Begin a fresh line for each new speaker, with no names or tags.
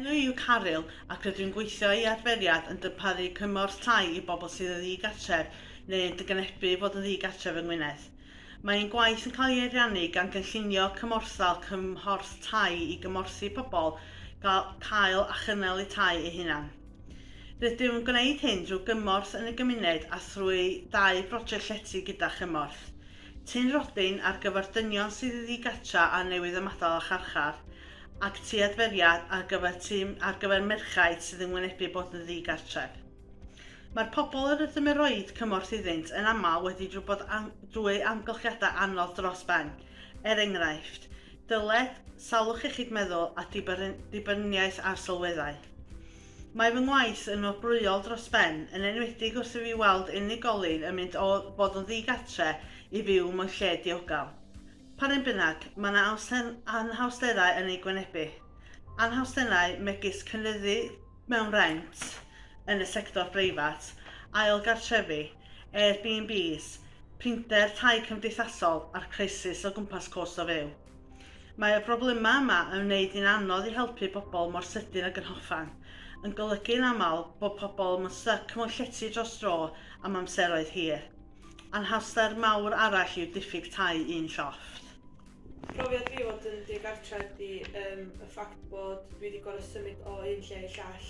Enw i yw Caryl ac rydw i'n gweithio i adferiad yn darparu cymorth tai i bobl sydd yn ddi-gartref neu yn dgnebu fod yn ddi-gartref yng Ngwynedd. Mae ein gwaith yn cael ei ariannu gan gynllunio cymorthal cymhorth tai i gymorthu pobl gael cael a chynnal eu tai eu hunain. Rydym yn gwneud hyn drwy gymorth yn y gymuned a thrwy ddau broject llety gyda chymorth Tŷ'n Robin ar gyfer dynion sydd yn ddigartra a newydd ymadael â charchar, ac Tŷ Adferiad ar gyfer tŷ ar gyfer merchaid sydd yn wynebu bod yn ddigartref. Mae'r pobl yr ydym yn rhoi cymorth iddynt yn aml wedi drwy bod am, drwy amgylchiadau anodd dros ben, Er enghraifft, dyled salwch iechyd meddwl a dibyniaeth ar sylweddau. Mae fy ngwaith yn wobrwyol dros ben, yn enwedig wrth i fi weld unigolyn yn mynd o fod yn ddi-gartre i fyw mewn lle diogel. P'un bynnag, mae yna anhawsterau yn eu gwynebu. Anhawsterau megis cynyddu mewn rhent yn y sector breifat, ail gartrefi, Airbnbs, prinder tai cymdeithasol a'r crisis o gwmpas cost o fyw. Mae y broblemau yma yn wneud hi'n anodd i helpu pobl mor sydyn ag yn hoffan, yn golygu yn aml bod pobl yn styc mewn llety dros dro am amseroedd hir. Anhawster mawr arall yw diffyg tai un llofft. Profiad
fi fod yn digartref ydy yym y ffact bod dwi 'di gor'o' symud o un lle i llall.